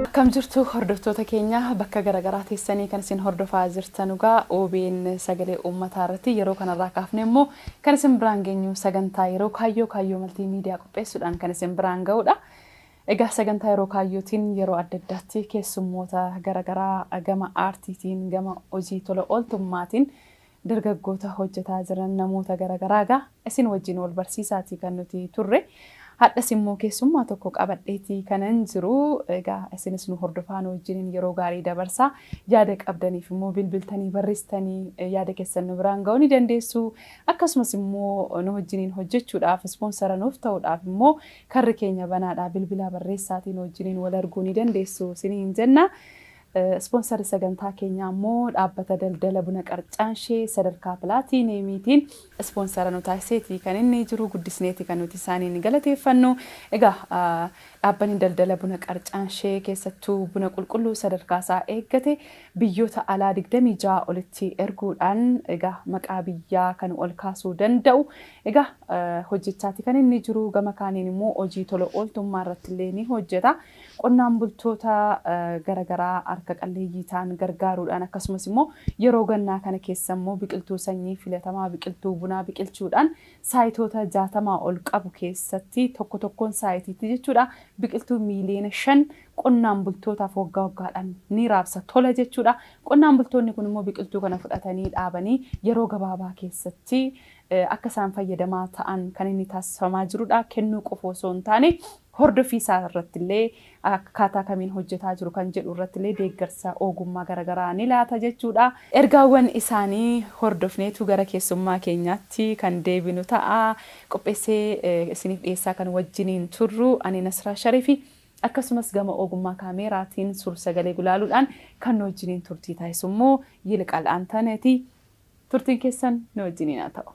Akkam jirtu hordoftoota keenya bakka garaagaraa teessanii kan isin hordofaa jirtan egaa OBN sagalee uummataa irratti yeroo kanarraa kaafne immoo kan isin biraan geenyu sagantaa yeroo kaayyoo kaayyoo maltii miidiyaa qopheessuudhaan kan isin biraan ga'udha. Egaa sagantaa yeroo kaayyootiin yeroo adda addaatti keessummoota garaagaraa gama aartiitiin gama hojii tola ooltummaatiin Dargaggoota hojjetaa jiran namoota gara garaa egaa isin wajjin wal barsiisaati kan nuti turre. Hadhas immoo keessummaa tokko qabadheeti kanan jiru. Egaa isinis nu hordofaa nu wajjiniin yeroo gaarii dabarsaa. Yaada qabdaniif immoo bilbiltanii barristanii yaada keessan nu biraan ga'uu ni dandeessu. Akkasumas immoo nu wajjiniin hojjechuudhaaf ispoonsara nuuf ta'uudhaaf immoo karri keenya banaadha. Bilbilaa barreessaatii nu wajjiniin wal arguu ni dandeessu isiniin jenna. Ispoonsarri sagantaa keenyaa immoo dhaabbata daldala buna qarcaanshee sadarkaa pilaatiiniyeemiitiin ispoonsara nu taasiseeti kan inni jiru guddisneeti kan nuti isaaniin galateeffannu. Egaa dhaabbanni daldala buna qarcaanshee keessattuu buna qulqulluu sadarkaa isaa eeggate biyyoota alaa 26 olitti erguudhaan egaa maqaa biyyaa kan ol kaasuu danda'u egaa hojjechaati kan inni jiru gama kaaniin immoo hojii tola ooltummaa irratti illee ni hojjeta. Qonnaan bultoota gara garaa harka qalleeyyii ta'an gargaaruudhaan akkasumas immoo yeroo gannaa kana keessa immoo biqiltuu sanyii filatamaa biqiltuu bunaa biqilchuudhaan saayitoota 60 ol qabu keessatti tokko tokkoon saayitiitti jechuudha biqiltuu miiliyoona 5 qonnaan bultootaaf waggaa waggaadhaan ni raabsa tola jechuudha. Qonnaan bultoonni kun immoo biqiltuu kana fudhatanii dhaabanii yeroo gabaabaa keessatti akka isaan fayyadamaa ta'an kan inni taasifamaa jirudha. Kennuu qofa osoo hin taane Hordoffii isaa irratti illee akkaataa kamiin hojjetaa jiru kan jedhu irratti illee deeggarsa oogummaa gara garaa ni laata jechuudha. Ergaawwan isaanii hordofneetu gara keessummaa keenyaatti kan deebinu ta'a. Qopheessee isiniif dhiyeessaa kan wajjiniin turru ani Nasraa Sharifi. Akkasumas gama oogummaa kaameeraatiin suur-sagalee gulaaluudhaan kan nu wajjiniin turtii taasisu immoo Yilqaal Antaneeti. Turtiin keessan nu wajjiniin haa ta'u.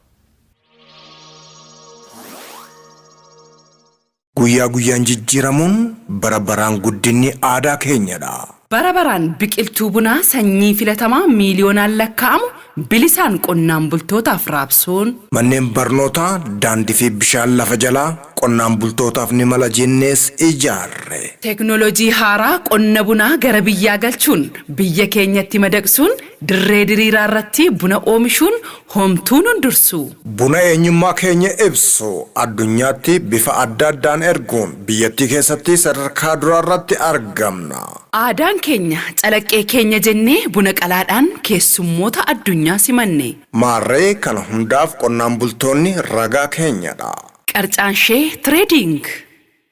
Guyyaa guyyaan jijjiiramuun, bara baraan guddinni aadaa keenyadha! Bara baraan biqiltuu bunaa sanyii filatamaa miiliyoonaan lakkaa'amu bilisaan qonnaan bultootaaf raabsuun. Manneen barnootaa, daandii fi bishaan lafa jalaa qonnaan bultootaaf ni mala jennees ijaarre. Teeknooloojii haaraa qonna bunaa gara biyyaa galchuun biyya keenyatti madaqsuun Dirree diriiraa irratti buna oomishuun homtuu nun dursu! Buna eenyummaa keenya ibsu addunyaatti bifa adda addaan erguun biyyattii keessatti sadarkaa duraa irratti argamna. Aadaan keenya calaqqee keenya jennee buna qalaadhaan keessummoota addunyaa simanne. Maarree kana hundaaf qonnaan bultoonni ragaa keenyadha. Qarcaanshee Trading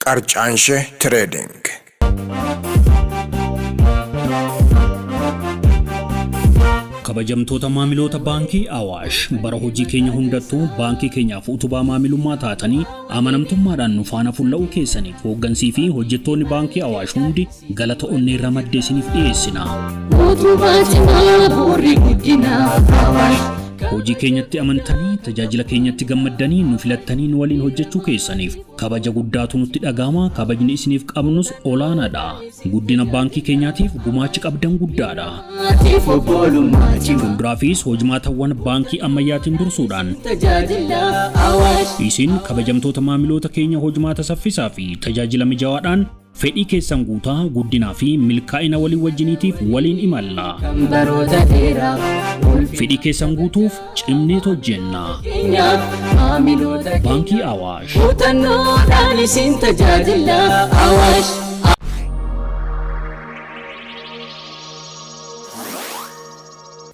Qarcaanshe Trading. Kabajamtoota maamiloota Baankii Awaash, bara hojii keenya hundattuu baankii keenyaaf utubaa maamilummaa taatanii amanamtummaadhaan nu faana fulla'uu keessaniif hooggansii fi hojjettoonni Baankii Awaash hundi Galata onnee irraa madde isiniif dhiyeessina. Mootummaa cimaa bu'uurri guddinaaf Awaash. Hojii keenyatti amantanii, tajaajila keenyatti gammaddanii, nu filattanii nu waliin hojjechuu keessaniif kabaja guddaatu nutti dhaga'ama, kabajni isiniif qabnus olaanaadha. Guddina baankii keenyaatiif gumaachi qabdan guddaadha. Maatiif obbolummaa cimaa. Fuulduraafis hojmaatawwan baankii ammayyaatiin dursuudhaan Tajaajila Awaash. isin kabajamtoota maamiloota keenya hojmaata saffisaa fi tajaajila mijawaadhaan Fedhii keessan guutaa guddinaa fi milkaa'ina walii wajjiniitiif waliin imalla. kan baroota dheeraaf ulfi Fedhii keessan guutuuf cimneet hojjenna. keenyaaf maamiloota keenya Baankii Awaash. muuxannoodhaan isin tajaajila awaash.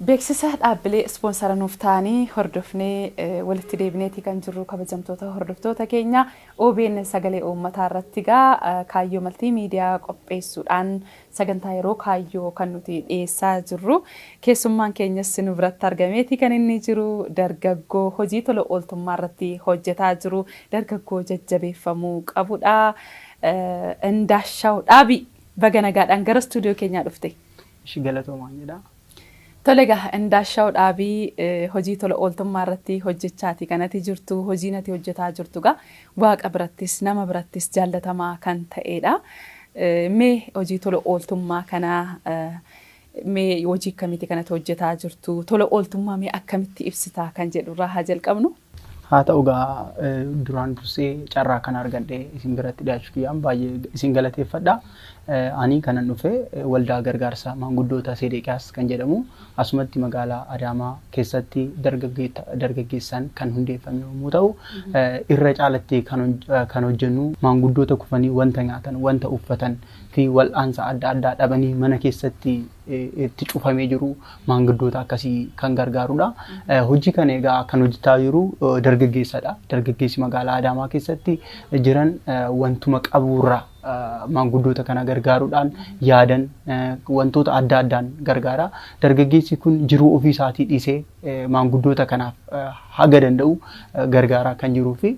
Beeksisa dhaabbilee ispoonsara nuuf ta'anii hordofnee eh, walitti deebineeti kan jirru kabajamtoota hordoftoota keenya Obn Sagalee Uummataa irratti egaa Kaayyoo Maltii Miidiyaa qopheessuudhaan sagantaa yeroo kaayyoo kan nuti dhiyeessaa jirru. Keessummaan keenyas nu biratti argameeti kan inni jiru. Dargaggoo hojii tola ooltummaa irratti hojjetaa jiru. Dargaggoo jajjabeeffamuu qabudha. Indaashaaw Dhaabii! Baga nagaadhaan gara studio keenyaa dhufte. Ishi galatoomaan jedha. Tole egaa Indaashaw Dhaabii hojii tola ooltummaa irratti hojjechaati kan ati jirtu. Hojiin ati hojjetaa jirtu egaa Waaqa birattis nama birattis jaallatamaa kan ta'eedha. Mee hojii tola ooltummaa kana mee hojii akkamiiti kan ati hojjetaa jirtu? Tola ooltummaa mee akkamitti ibsita kan jedhu irraa haa jalqabnu. Haa ta'u egaa duraan dursee carraa kana argadhee isin biratti dhiyaachuu kiyyaan baay'ee isin galateeffadha. Ani kanan dhufe waldaa gargaarsa maanguddoota Seedeeqiyaas kan jedhamu asumatti magaalaa Adaamaa keessatti dargaggeessaan kan hundeeffame yommuu ta'u irra caalatti kan hojjennu maanguddoota kufanii wanta nyaatan, wanta uffatan fi wal'aansa adda addaa dhabanii mana keessatti itti cufamee jiru maanguddoota akkasii kan gargaarudha. Hojii kana egaa kan hojjetaa jiru dargaggeessadha. Dargaggeessi magaalaa Adaamaa keessatti jiran wantuma qaburraa maanguddoota kana gargaaruudhaan yaadan wantoota adda addaan gargaara. Dargaggeessi kun jiruu ofii isaatii dhiisee maanguddoota kanaaf haga danda'u gargaaraa kan jiruu fi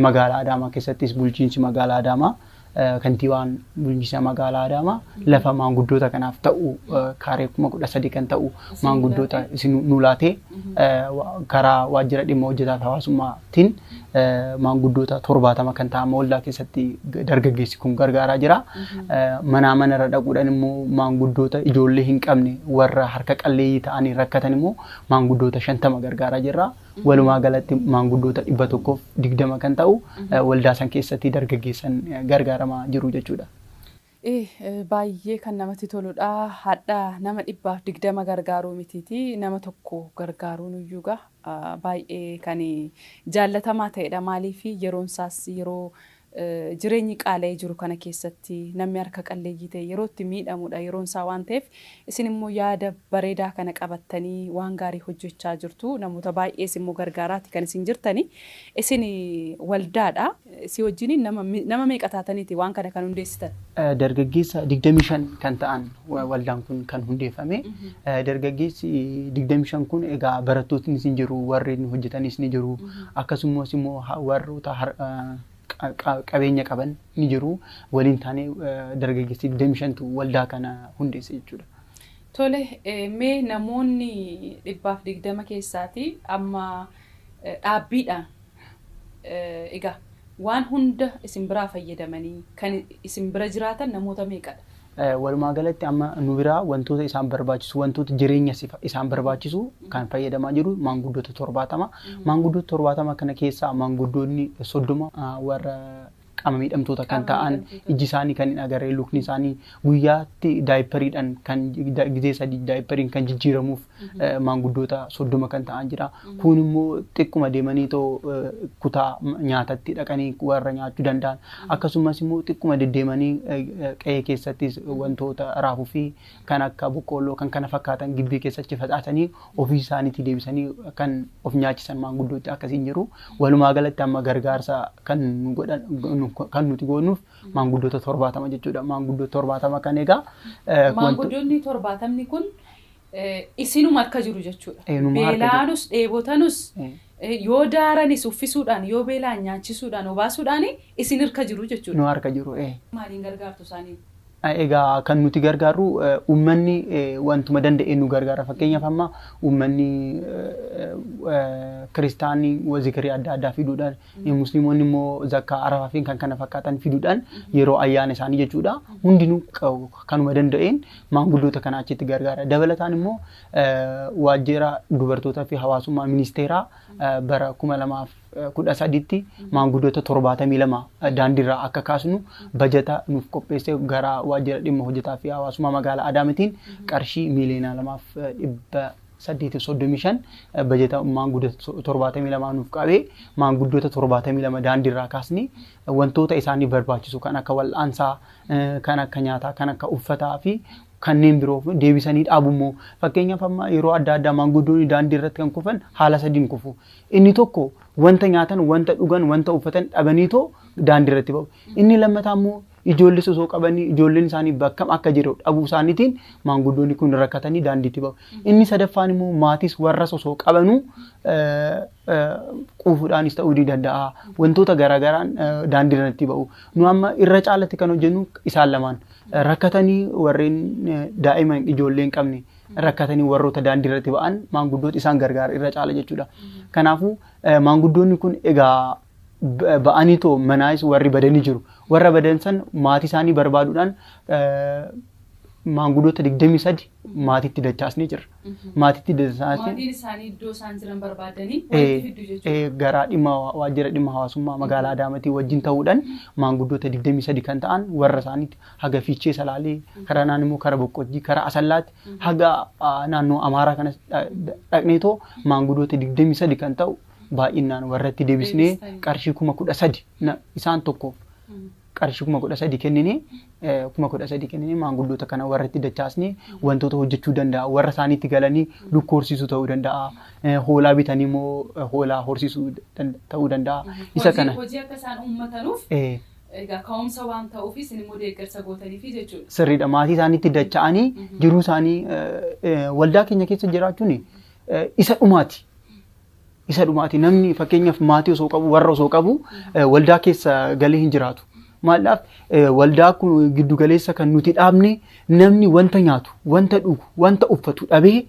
magaalaa Adaamaa keessattis bulchiinsi magaalaa Adaamaa Kantiibaan bulchiinsa magaalaa Adaamaa lafa maanguddoota kanaaf ta'u kaaree kuma kudha sadii kan ta'u maanguddoota isin nu laatee karaa waajjira dhimma hojjetaa hawaasummaatiin maanguddoota torbaatama kan ta'an waldaa keessatti dargaggeessi kun gargaaraa jira. Manaa manarra dhaquudhaan immoo maanguddoota ijoollee hin qabne warra harka qalleeyyii ta'anii rakkatan immoo maanguddoota shantama gargaaraa jirra. Walumaa galatti maanguddoota dhibba tokkoof digdama kan ta'u waldaa san keessatti dargaggeessan gargaaramaa jiru jechuudha. Baay'ee kan namatti toludha. Hadha nama dhibbaaf digdama gargaaruu mitiiti nama tokko gargaaruun iyyuu gaa baay'ee kan jaallatamaa ta'edha. Maaliif yeroon isaas yeroo Jireenyi qaala'ee jiru kana keessatti namni harka qalleeyyii ta'e yeroo itti miidhamudha, yeroon isaa waan ta'eef isin immoo yaada bareedaa kana qabattanii waan gaarii hojjechaa jirtu. Namoota baay'ees immoo gargaaraati kan isin jirtani. Isin waldaadha. Isii wajjiniin nama nama meeqa taataniiti waan kana kan hundeessitan? Dargaggeessa 25 kan ta'an Waldaan kun kan hundeeffame dargaggeessi 25 kun egaa barattootnis ni jiru warri hojjetanis ni jiru akkasumas immoo warroota qabeenya qaban ni jiru waliin taanee dargaggeessi 25tu waldaa kana hundeesse jechuudha. Tole mee namoonni dhibbaaf digdama keessaati amma dhaabbiidhaan Egaa, waan hunda isin biraa fayyadamanii kan isin bira jiraatan namoota meeqa dha? Walumaa galatti amma nu biraa wantoota isaan barbaachisu, wantoota jireenya isaan barbaachisu kan fayyadamaa jiru maanguddoota 70. Maanguddoota 70 kana keessaa maanguddoonni 30 warra qaama miidhamtoota kan ta'an ijji isaanii kan hin agarre lukni isaanii guyyaatti daayipariidhaan kan gizee sadii daayipariin kan jijjiiramuuf maanguddoota soddoma kan ta'an jira. Kun immoo xiqquma deemanii too kutaa nyaatatti dhaqanii warra nyaachuu danda'an akkasumas immoo xiqquma deddeemanii qe'ee keessattis wantoota raafuu fi kan akka boqqoolloo kan kana fakkaatan gibbii keessatti facaasanii ofii isaaniitii deebisanii kan of nyaachisan maanguddootti akkasiin jiru. Walumaa galatti amma gargaarsa kan nu godhan nu- kan nuti goonuuf maanguddoota torbaatama jechuudha. Maanguddoota torbaatama kan egaa eh, wanto- Maanguddoonni torbaatamni kun eh, isinuma harka jiru jechuudha. Eenyuma harka jiru. Beelaanus dheebotanus eh, eh, yoo daaranis uffisuudhaan yoo beelaan nyaachisuudhaan obaasuudhaan isin harka jiru jechuudha. nu harka jiru. eh. Maaliin gargaartu isaanii? Egaa kan nuti gargaarru uummanni wantuma danda'een nu gargaara. Fakkeenyaaf amma uummanni kiristaanni zikirii adda addaa fiduudhaan, musliimonni immoo zakkaa arafaa fi kan kana fakkaatan fiduudhaan yeroo ayyaana isaanii jechuudha. Hundinuu kanuma danda'een maanguddoota kana achitti gargaara. Dabalataan immoo waajjira dubartootaa fi hawaasummaa ministeeraa bara kuma lamaa fi 13tti maanguddoota 72 daandiirraa akka kaasnu bajata nuuf qopheesse gara waajjira dhimma hojjetaa fi hawaasummaa magaalaa Adaamitiin qarshii miiliyoona 2f 835 bajata maanguddoota 72 nuuf qabee maanguddoota 72 daandiirraa kaasnee wantoota isaaniif barbaachisu kan akka wal'aansaa, kan akka nyaataa, kan akka uffataa fi kanneen biroo deebisanii dhaabu immoo fakkeenyaaf amma yeroo adda addaa maanguddoonni daandii irratti kan kufan haala sadiin kufu. Inni tokko wanta nyaatan, wanta dhugan, wanta uffatan dhabaniitoo daandii irratti ba'u. Inni lammataa immoo ijoollis osoo qabanii ijoolleen isaanii bakkam akka jiru dhabuu isaaniitiin maanguddoonni kun rakkatanii daandiitti ba'u. Inni sadaffaan immoo maatis warras osoo qabanuu quufuudhaanis ta'uu ni danda'a. Wantoota garaagaraan daandii irratti ba'u. Nu amma irra caalatti kan hojjennu isaan lamaan. Rakkatanii warreen daa'ima ijoollee hin qabne rakkatanii warroota daandii irratti ba'an maanguddoota isaan gargaara irra caala jechuudha. Kanaafuu eh, maanguddoonni kun egaa b- ba'anii too manaayis warri badanii jiru. Warra badan san maatii isaanii barbaaduudhaan eh, maanguddoota 23 maatiitti dachaasnee jirra. Maatiitti dachaasnee Maatiin isaanii iddoo isaan jiran barbaadanii Eh, walitti fiddu jechuudha. eh, garaa dhimma hawa- waajjira dhimma hawaasummaa magaalaa Adaamaatii wajjin ta'uudhaan maanguddoota 23 kan ta'an warra isaaniitti haga Fiichee Salaalee, karaa naan immoo kara Boqqojjii, karaa Asallaatti haga ah, naannoo Amaaraa kanas dha- dha- dhaqneetoo maangudoota 23 kan ta'u baay'inaan warratti deebisnee Deebistanii. qarshii kuma kudha sadi na- isaan tokkoof qarshii kuma kudha sadi kenninee eh, kuma kudha sadi kenninee maanguddoota kana warratti dachaasnee wantoota hojjechuu danda'a warra isaaniitti galanii lukkuu horsiisuu ta'uu danda'a eh, hoolaa bitanii immoo eh, hoolaa horsiisuu dan- ta'uu danda'a isa Hojii- kana Hojii akka isaan uummatanuuf eh, Egaa ka'umsa waan ta'uuf isin immoo deeggarsa gootaniifi jechuudha. Sirriidha maatii isaaniitti dacha'anii jiruu isaanii waldaa keenya keessa jiraachuun isa dhumaati. Isa dhumaati namni fakkeenyaaf maatii osoo qabu warra osoo qabu waldaa keessa galee hin jiraatu. Maalaaf waldaa kun giddu galeessa kan nuti dhaabne namni wanta nyaatu, wanta dhugu, wanta uffatu dhabee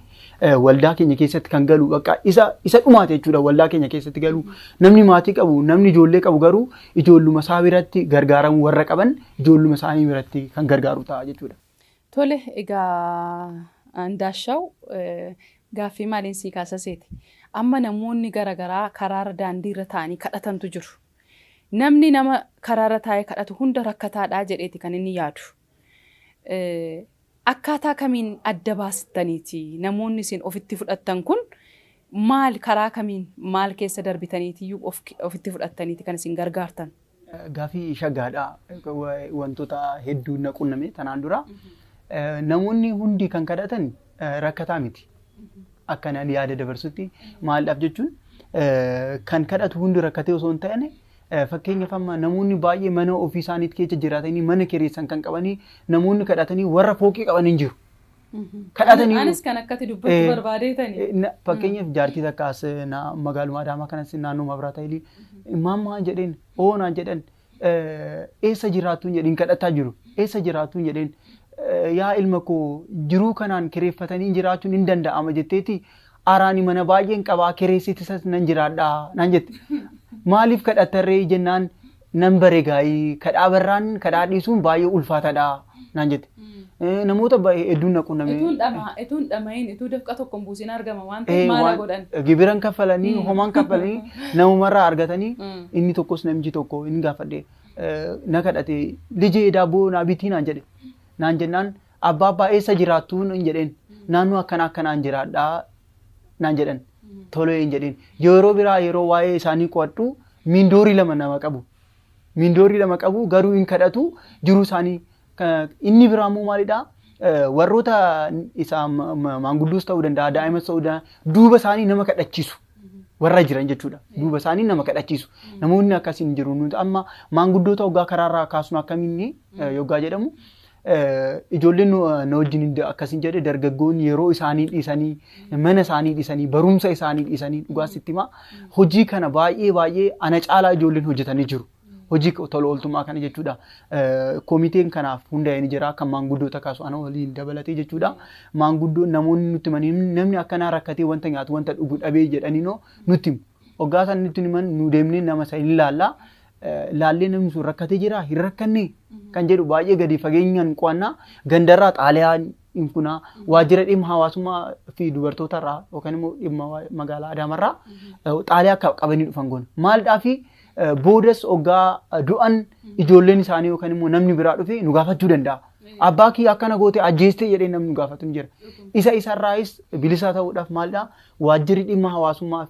waldaa keenya keessatti kan galu bakka isa isa dhumaate jechuudha waldaa keenya keessatti galu namni maatii qabu namni ijoollee qabu garuu ijoolluma isaa biratti gargaaramu warra qaban ijoolluma isaanii biratti kan gargaaru ta'a jechuudha. Tole egaa Ndaashaw gaaffii maaliin sii kaasaseeti. Amma namoonni garaagaraa karaarra daandiirra taa'anii kadhatantu jiru. Namni nama karaarra taa'ee kadhatu hunda rakkataadhaa jedheeti kan inni yaadu. Akkaataa kamiin adda baastaniiti? Namoonni isin ofitti fudhattan kun maal karaa kamiin maal keessa darbitaniitiyyuu ofitti fudhattaniiti kan isin gargaartan? Gaafii shaggaadha. Wantoota hedduu na qunname tanaan dura. Namoonni hundi kan kadhatan rakkataa miti. Akkanaan yaada dabarsutti maaldhaaf jechuun kan kadhatu hundi rakkatee osoo hin taane Fakkeenyaaf amma namoonni baay'ee mana ofii isaaniitti keessa jiraatanii mana kireessan kan qabanii namoonni kadhatanii warra fooqii qaban hin jiru. Kadhatanii Anis kan akkati dubbachuu Eh, barbaadeetani. Eh, na- fakkeenyaaf jaartii takka as eh, na- magaaluma Adaamaa kanas naannoo Mabraata Ilii maammaa jedheen oonaa jedhan eh, eessa jiraattuun jedheen kadhataa jiru eessa jiraattuun jedheen eh, yaa ilma koo jiruu kanaan kireeffatanii jiraachuun hin danda'ama jetteeti Araa ani mana baay'een qaba kireessitisas nan jiraadha naan jette. Maaliif kadhattarree jennaan nan bare gaa'ii kadhaa barraan kadhaa dhiisuun baay'ee ulfaataadha naan jette. Eh, Namoota baay'ee hedduun na qunname. Ituun dhama, ituun dhama'iin, ituu dafqa tokkoon buusiin argama waan Eh, ta'eef maala waan- godhan. Gibiran kaffalanii, homaan kaffalanii, namumarraa argatanii Mm. inni tokkos namichi tokko hin gaafadhe. Eh, Na kadhate, lijee daabboo naa bitii naan jedhe. Naan jennaan Abbaabbaa eessa jiraattuu nan jedheen. Naannoo akkanaa akkanaan jiraadhaa naan jedhan. Tolee hin jedheen. Yeroo biraa yeroo waa'ee isaanii qo'adhu miindoorii lama nama qabu. Miindoorii lama qabu garuu hin kadhatu jiruu isaanii. Ka- Inni biraa immoo maalidhaa? Eh, Warroota isaa ma- ma- maanguddoos ta'uu danda'a, daa'imas ta'uu danda'a, duuba isaanii nama kadhachiisu. warra jiran jechuudha. Duuba isaanii nama kadhachiisu. Namoonni akkasiin jiru. Nuti amma maanguddoota hoggaa karaarraa kaasnu akkamiin eh, yoggaa jedhamu Ijoolleen na wajjin akkasiin jedhe dargaggoonni yeroo isaanii dhiisanii mana isaanii dhiisanii barumsa isaanii dhiisanii dhugaa sitti himaa hojii kana baay'ee baay'ee ana caalaa ijoolleen hojjetanii jiru. Hojii tola ooltummaa kana jechuudha. Komiteen kanaaf hundaa'ee ni jira kan maanguddoota kaasu ana waliin dabalatee jechuudha. Maanguddoon namoonni nutti himanii namni akkanaa rakkatee wanta nyaatu wanta dhugu dhabee jedhaniinoo nutti himu. Oggaa isaan nutti himan nu deemnee nama isa hin ilaalla. laallee namni sun rakkatee jira hin rakkanne kan jedhu baay'ee gadi fageenyaan qo'annaa gandarraa xaaliyaa hin funaa waajjira dhimma hawaasummaa fi dubartootarraa yookaan immoo dhimma waa- magaalaa Adaamarraa eh, xaaliyaa akka qabanii dhufan goona. Maaldhaa fi eh, boodas oggaa eh, du'an ijoolleen isaanii yookaan immoo namni biraa dhufee nu gaafachuu danda'a. Abbaa kiyya akkana goote ajjeestee jedhee namni nu gaafatu ni jira. Isa isarraayis bilisaa ta'uudhaaf maaldhaa waajjirri dhimma hawaasummaa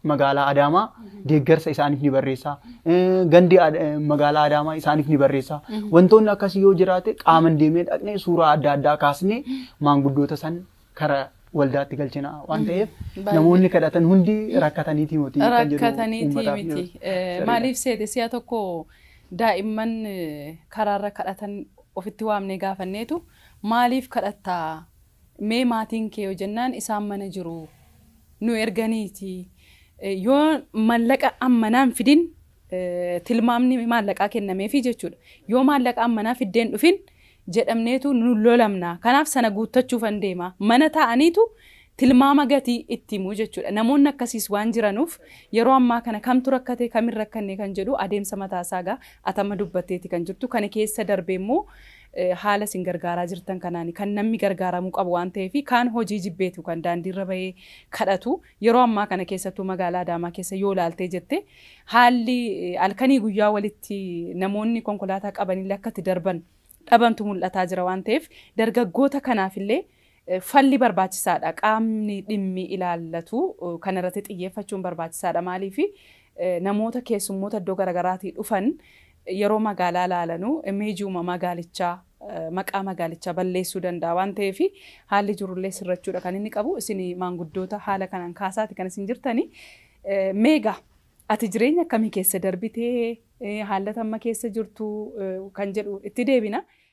magaalaa Adaamaa deeggarsa isaaniif ni barreessa. Eh, Gandi Ad- eh, magaalaa Adaamaa isaaniif ni barreessa. Wantoonni akkasii yoo jiraate qaaman deemee dhaqnee suuraa adda addaa kaasnee maanguddoota san kara waldaatti galchina waan ta'eef Baay'ee. namoonni kadhatan hundi rakkataniiti miti kan jedhu rakkataniiti uummataaf miti. dhiyeessu. Eh, Sirriidha. Maaliif seete si'a tokko daa'imman eh, karaarra kadhatan ofitti waamnee gaafanneetu maaliif kadhattaa Mee maatiin kee yoo jennaan isaan mana jiru nu erganiiti. Yoo mallaqa ammanaa hin fidin tilmaamni maallaqaa kennameefi jechuudha. Yoo maallaqa ammanaa fiddeen dhufin jedhamneetu nu lolamna. Kanaaf sana guuttachuufan deema. Mana taa'aniitu tilmaama gatii itti himu jechuudha. Namoonni akkasiis waan jiranuuf yeroo ammaa kana kamtu rakkate kam hin rakkanne kan jedhu adeemsa mataasaa egaa atama dubbatteeti kan jirtu. Kana keessa darbee immoo haala isin gargaaraa jirtan kanaan kan nammi gargaaramuu qabu waan ta'eefi kaan hojii jibbeetu kan daandiirra bahee kadhatu. Yeroo ammaa kana keessattuu magaalaa Adaamaa keessa yoo ilaaltee jette haalli halkanii guyyaa walitti namoonni konkolaataa qabanillee akka itti darban dhabantu mul'ataa jira waan ta'eef dargaggoota kanaafillee Falli barbaachisaadha. Qaamni dhimmi ilaallatu kanarratti xiyyeeffachuun barbaachisaadha. Maaliif namoota keessummoota iddoo garagaraatii dhufan yeroo magaalaa ilaalanu imeejiuma magaalichaa, maqaa magaalichaa balleessuu danda'a waan ta'eef haalli jirullee sirrachuudha kan inni qabu. Isin maanguddoota haala kanaan kaasaati kan isin jirtani. Mee egaa ati jireenya akkamii keessa darbitee haallata amma keessa jirtu kan jedhu itti deebina.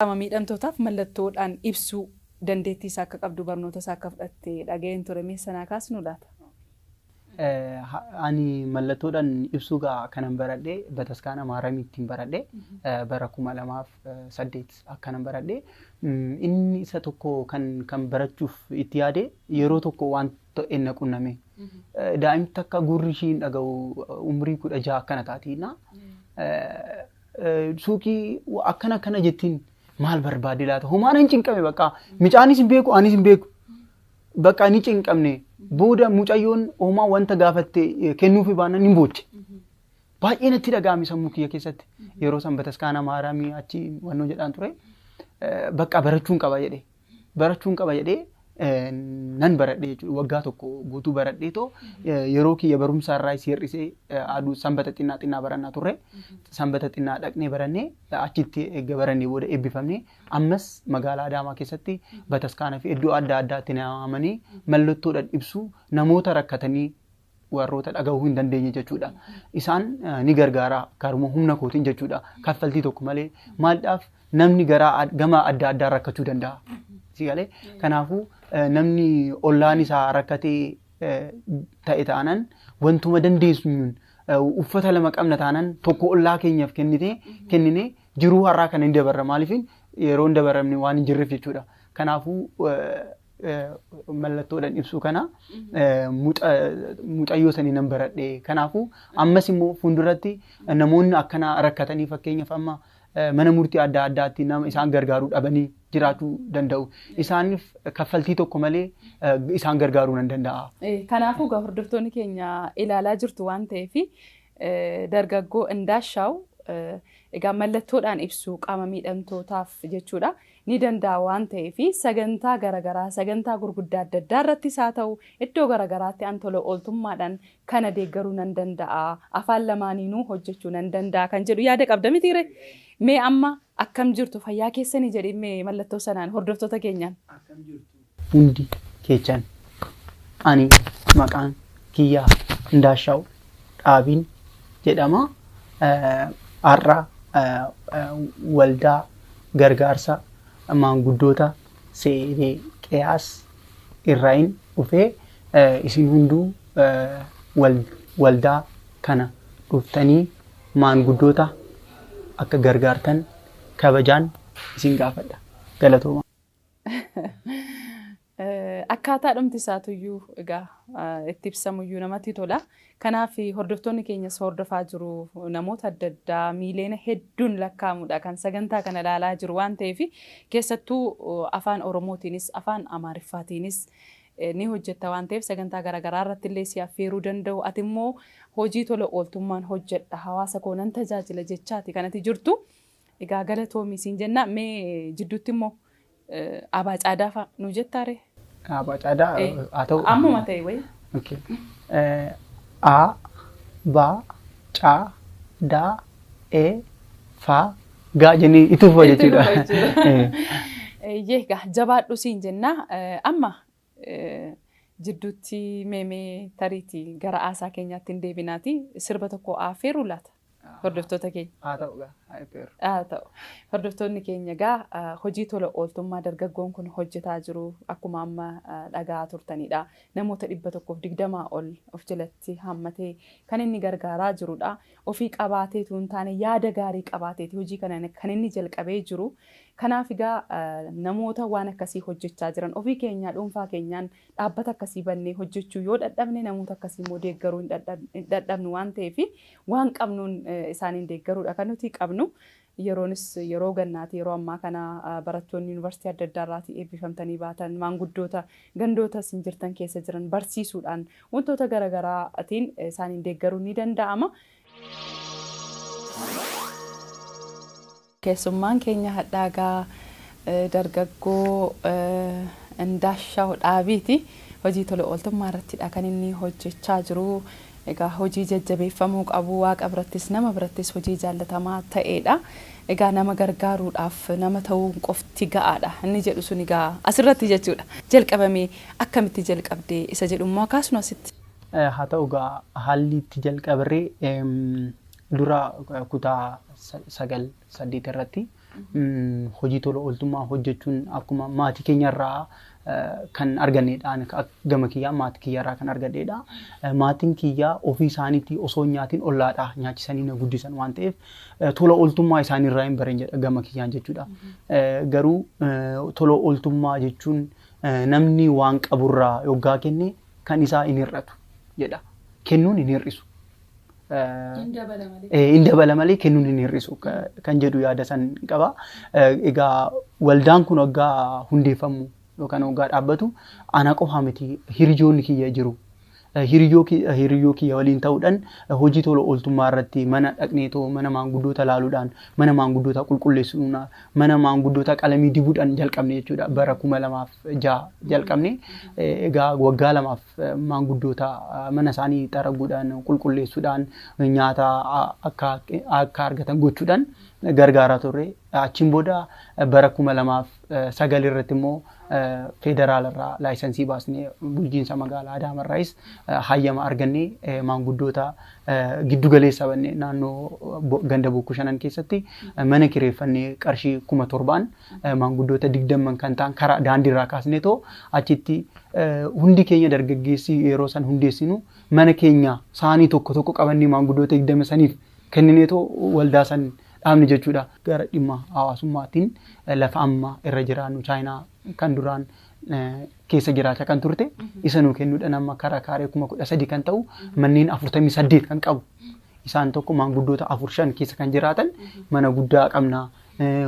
Qaama miidhamtootaaf mallattoo dhaan ibsuu dandeettii isaa akka qabdu barnoota isaa akka fudhatte dhaga'een ture mee isa naa kaasnuu laata? Ani mallattoo dhaan ibsuu gaa kanan baradhe bataskaana Maaramii ittiin baradhe bara kuma lamaaf saddeet akkanan baradhe inni isa tokko kan kan barachuuf itti yaade yeroo tokko waan ta'e na qunname daa'imti takka gurri ishii hin dhaga'u umrii kudha jaha akkana taatiina suuqii akkana akkana jettiin maal barbaadde laata homaan hin cinqame bakka micaanis hin beeku anis hin beeku bakka ni cinqamne booda mucayyoon homaa wanta gaafatte eh, kennuufi baannan hin booche baay'ee natti dhaga'ame sammuu kiyya keessatti yeroo san bataskaana maaramii achi wannoo jedhaan ture eh, bakka barachuun qaba jedhe barachuun qaba jedhee nan baradhe jechuudha. Waggaa tokko guutuu baradhee too yeroo kiyya barumsaa irraa si hir'isee aduu sanbata xinnaa xinnaa barannaa turre. Sanbata xinnaa dhaqnee barannee achitti eegga barannee booda eebbifamnee ammas magaalaa Adaamaa keessatti bataskaana fi iddoo adda addaatti na waamanii mallattoodhaan ibsuu namoota rakkatanii warroota dhagahuu hin dandeenye jechuudha. Isaan ni gargaara karuma humna kootiin jechuudha. Kaffaltii tokko malee maaldhaaf namni garaa ad- gama adda addaa rakkachuu danda'a. Si galee? Kanaafuu eh, namni ollaan isaa rakkatee eh, ta'e taanan wantuma dandeessuun eh, uffata lama qabna taanan tokko ollaa keenyaaf kennitee kennine jiruu har'aa kana hin dabarra maaliif yeroo hin dabaramne waan hin jirreef jechuudha. Kanaafuu eh, mallattoodhaan ibsuu kana mucayyoo sanii nan baradhe. Kanaafuu ammas immoo fuulduratti namoonni akkanaa rakkatanii fakkeenyaaf amma mana murtii adda addaatti nama isaan gargaaruu dhabanii jiraachuu danda'u. Isaaniif kaffaltii tokko malee isaan gargaaruu nan danda'a. Kanaafuu egaa hordoftoonni keenya ilaalaa jirtu waan ta'eef dargaggoo Indaashaaw egaa mallattoodhaan ibsu qaama miidhamtootaaf jechuudha. ni danda'a waan ta'eef sagantaa garagaraa sagantaa gurguddaa adda addaa irrattis haa ta'u iddoo garagaraatti an tola ooltummaadhaan kana deeggaruu nan danda'a afaan lamaaniinuu hojjechuu nan danda'a kan jedhu yaada qabda mitiiree mee amma akkam jirtu fayyaa keessanii jedhi mee mallattoo sanaan hordoftoota keenyaan. Akkam jirtu hundi keechan ani maqaan kiyyaa Ndaashaaw Dhaabiin jedhama. Har'a waldaa gargaarsa maanguddoota Seedeeqiyaas irraayin dhufee isin hunduu waldaa kana dhuftanii maanguddoota akka gargaartan kabajaan isin gaafadha. Galatooma. Akkaataa dhumti isaatuyyuu egaa itti ibsamuyyuu namatti tola. Kanaaf hordoftoonni keenyas hordofaa jiru. Namoota adda addaa miiliyoona hedduun lakkaa'amudha kan sagantaa kana ilaalaa jiru waan ta'eef keessattuu afaan Oromootiinis afaan Amaariffaatiinis ni hojjetta waan ta'eef sagantaa garaagaraa irratti illee si affeeruu danda'u. Ati immoo hojii tola ooltummaan hojjedha hawaasa koo nan tajaajila jechaati kanati jirtu. Egaa galatoomi siin jennaa mee jidduutti immoo abaa caadaa fa'a nu jettaa ree? Abaa caadaa haa ta'u. Ammuma ta'e wayii. Okay. Eh, A, ba, ca, da, e, fa, ga jennee itti fufa Itti jechuudha. fufa jechuudha. Eh, Eeyyee egaa jabaadhu siin jennaa Eh, amma jidduutti mee mee tariiti gara aasaa keenyaatti hin deebinaati sirba tokko aafeeruu laata hordoftoota keenya. Haa ta'u gaa haa eebbeeru. Haa ta'u. Hordoftoonni keenya egaa hojii tola ooltummaa dargaggoon kun hojjetaa jiru akkuma amma dhaga'aa turtanidha. Namoota dhibba tokkoof digdamaa ol of jalatti hammatee kan inni gargaaraa jirudha. ofii qabaatee utuu hin taane yaada gaarii qabaatee ti hojii kana kan inni jalqabee jiru. Kanaaf egaa namoota waan akkasii hojjechaa jiran ofii keenyaa dhuunfaa keenyaan dhaabbata akkasii bannee hojjechuu yoo dhadhabne namoota akkasii immoo deeggaruu hin dhadhabnu waan ta'eef waan qabnuun isaaniin deeggaruu dha kan nuti qabnu. Yeroonis yeroo gannaati. Yeroo ammaa kana barattoonni Yuunivarsiitii adda addaa irraatii eebbifamtanii baatan, maanguddoota gandoota isin jirtan keessa jiran barsiisuudhaan wantoota gara garaatiin isaaniin deeggaruun ni danda'ama. Keessummaan keenya hadhaa egaa dargaggoo Indaashaaw Dhaabiiti. Hojii tola ooltummaa irrattidha kan inni hojjechaa jiru. Egaa hojii jajjabeeffamuu qabu, Waaqa birattis nama birattis hojii jaallatamaa ta'eedha. Egaa nama gargaaruudhaaf nama ta'uun qofti ga'aadha inni jedhu sun egaa asirratti jechuudha. Jalqabamee akkamitti jalqabde isa jedhu immoo haa kaasnu asitti. Haa ta'u egaa haalli itti jalqaberree dura kutaa sagal saddeet irratti hojii tola ooltummaa hojjechuun akkuma maatii keenyarraa kan arganneedha. Ani gama kiyyaa maatii kiyyaarraa kan argadheedha. Maatiin kiyyaa ofii isaaniitii osoo hin nyaatiin ollaadha nyaachisanii na guddisan waan ta'eef tola ooltummaa isaaniirraa hin bareen jedha gama kiyyaan jechuudha. Garuu tola ooltummaa jechuun namni waan qaburraa yoggaa kenne kan isaa hin hir'atu jedha. Kennuun hin hir'isu. hin dabala malee kennuun hin hir'isu kan jedhu yaada san qaba. Egaa waldaan kun waggaa hundeeffamu yookaan waggaa dhaabbatu ana qofa miti hiriyoonni kiyya jiru. Hiriyyoo kiyya waliin ta'uudhaan hojii tola ooltummaa irratti mana dhaqneetoo mana maanguddoota laaluudhaan mana maanguddoota qulqulleessuun mana maanguddoota qalamii dibuudhaan jalqabne jechuudha bara kuma lamaaf jaha jalqabne egaa waggaa lamaaf maanguddoota mana isaanii xaraguudhaan qulqulleessuudhaan nyaata akka akka argatan gochuudhaan gargaaraa turre. Achiin booda bara kuma lamaaf sagal irratti immoo federaalarraa laayisansii baasnee bulchiinsa magaalaa Adaamarraayis hayyama argannee maanguddoota giddu galeessa bannee naannoo ganda bokkuu shanan keessatti mana kireeffannee qarshii kuma torbaan maanguddoota digdamman kan ta'an karaa daandiirraa kaasneetoo achitti hundi keenya dargaggeessi yeroo san hundeessinu mana keenya saanii tokko tokko qabannee maanguddoota digdama saniif kennineetoo waldaa san dhaabne jechuudha. Gara dhimma hawaasummaatiin lafa amma irra jiraannu chaayinaa kan duraan keessa jiraachaa kan turte isa nuu kennuudhaan amma karaa kaaree kuma kudha sadii kan ta'u manneen afurtamii saddeet kan qabu isaan tokko maanguddoota afur shan keessa kan jiraatan mana guddaa qabna.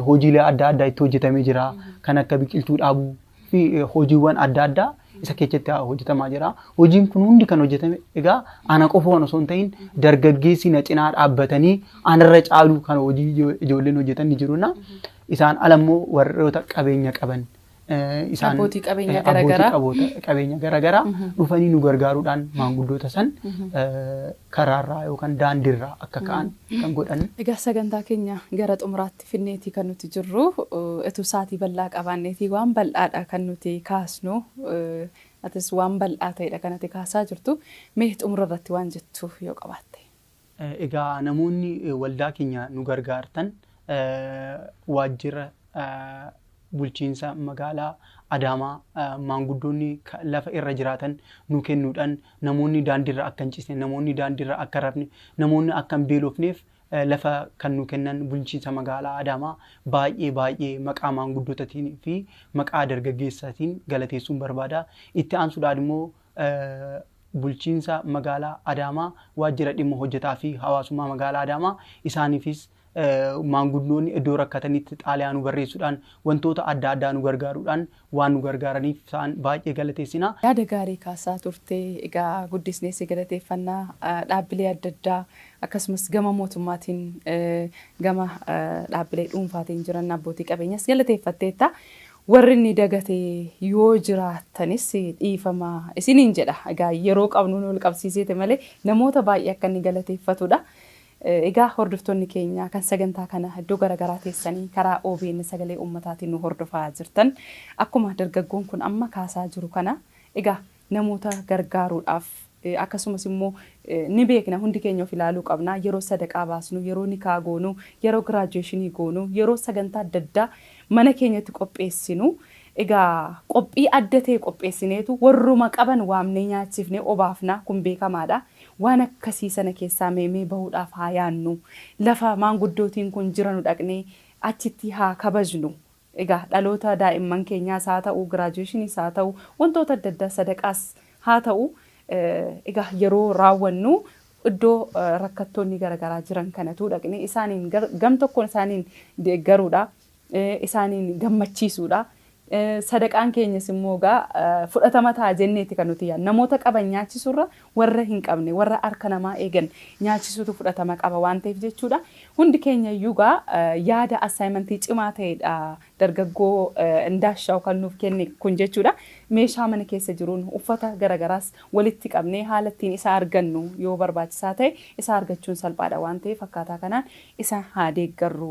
hojiilee adda addaa itti hojjetamee jira. Kan akka biqiltuu dhaabuu fi hojiiwwan adda addaa isa keessatti hojjetamaa jira. Hojiin kun hundi kan hojjetame egaa ana qofa waan osoo hin ta'in dargaggeessi na cinaa dhaabbatanii anarra caaluu kan hojii ijoolleen hojjetan ni jiruna. Isaan ala immoo warroota qabeenya qaban isaan Abbootii qabeenyaa eh, abbootii garaagaraa. qaboota- qabeenya garaagaraa dhufanii nu gargaaruudhaan maanguddoota san eh, karaarraa yookaan daandiirraa akka ka'an kan godhan Egaa sagantaa keenya gara xumuraatti finneetii kan nuti jirru eh, utuu saatii bal'aa qabaanneetii waan bal'aadha kan nuti kaasnu eh, atis waan bal'aa ta'edha kan ati kaasaa jirtu mee xumura irratti waan jettu yoo qabaatte. Egaa namoonni waldaa keenya nu gargaartan waajjira bulchiinsa magaalaa Adaamaa maanguddoonni lafa irra jiraatan nu kennuudhaan namoonni daandiirra akka hin cisne, namoonni daandiirra akka hin rafne, namoonni akka hin beelofneef lafa kan nu kennan bulchiinsa magaalaa Adaamaa baay'ee baay'ee maqaa maanguddootaatiin fi maqaa dargaggeessaatiin galateessuun barbaada. Itti aansuudhaan immoo Bulchiinsa Magaalaa Adaamaa, Waajjira Dhimma Hojjetaa fi Hawaasummaa Magaalaa Adaamaa isaaniifis maanguddoonni iddoo rakkatanitti xaalayaa nu barreessuudhaan wantoota adda addaa nu gargaaruudhaan waan nu gargaaraniif isaan baay'ee galateessina. Yaada gaarii kaasaa turte. Egaa guddisnee si galateeffanna. Dhaabbilee adda addaa akkasumas gama mootummaatiin gama dhaabbilee dhuunfaatiin jiran abbootii qabeenyas galateeffatteetta. Warri inni dagate yoo jiraattanis dhiifama isiniin jedha. Egaa yeroo qabnuun wal qabsiiseeti malee namoota baay'ee akka inni galateeffatudha. Egaa hordoftoonni keenya kan sagantaa kana iddoo gara garaa teessanii karaa obn Sagalee Uummataatiin nu hordofaa jirtan akkuma dargaggoon kun amma kaasaa jiru kana egaa namoota gargaaruudhaaf akkasumas immoo ni beekna hundi keenya of ilaaluu qabna yeroo sadaqaa baasnu yeroo nikaa goonu yeroo giraajuweeshinii goonu yeroo sagantaa adda addaa mana keenyatti qopheessinu egaa qophii adda ta'e qopheessineetu warruma qaban waamnee nyaachifnee obaafna kun beekamaadha waan akkasii sana keessaa mee mee bahuudhaaf haa yaannu lafa maanguddootiin kun jiranu dhaqnee achitti haa kabajnu Egaa dhaloota daa'imman keenyaas haa ta'u, giraajuweeshiniis haa ta'u, wantoota adda addaa sadaqaas haa ta'u, egaa yeroo raawwannu iddoo rakkattoonni gara garaa jiran kana utuu dhaqnee isaaniin gam tokkoon isaaniin deeggaruudha, isaaniin gammachiisuudha. Sadaqaan keenyas immoo egaa fudhatama ta'a jenneeti kan nuti yaadnu. Namoota qaban nyaachisuurra warra hin qabne, warra harka namaa eegan nyaachisuutu fudhatama qaba waan ta'eef jechuudha. Hundi keenya iyyuu egaa yaada assignment cimaa ta'edha dargaggoo Indaashaaw kan nuuf kenne kun jechuudha. Meeshaa mana keessa jiruun uffata gara garaas walitti qabnee haala ittiin isa argannu yoo barbaachisaa ta'e isa argachuun salphaadha waan ta'eef akkaataa kanaan isa haa deeggarru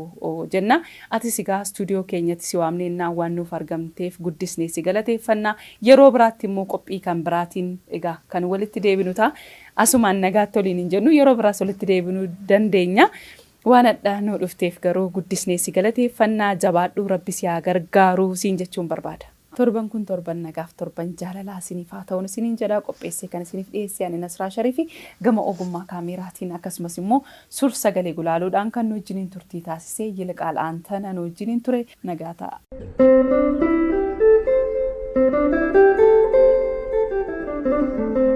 jenna. Atis egaa studio keenyatti si waamneennaa waan nuuf argamteef guddisnee si galateeffanna. Yeroo biraatti immoo qophii kan biraatiin egaa kan walitti deebinu ta'a. Asumaan nagaatti waliin hin jennu yeroo biraas walitti deebinuu dandeenya. Waan hadha nuu dhufteef garuu guddisnee si galateeffanna. Jabaadhu rabbi si haa gargaaru siin jechuun barbaada. Torban kun torban nagaaf torban jaalalaa isiniif haa ta'uun isiniin jedha. Qopheessee kan isiniif dhiyeesse ani Nasraa Sharifi. Gama ogummaa kaameeraatiin akkasumas immoo sur sagalee gulaaluudhaan kan nu wajjiniin turtii taasise Yiliqaal Aantana nu wajjiniin ture. Nagaa ta'a.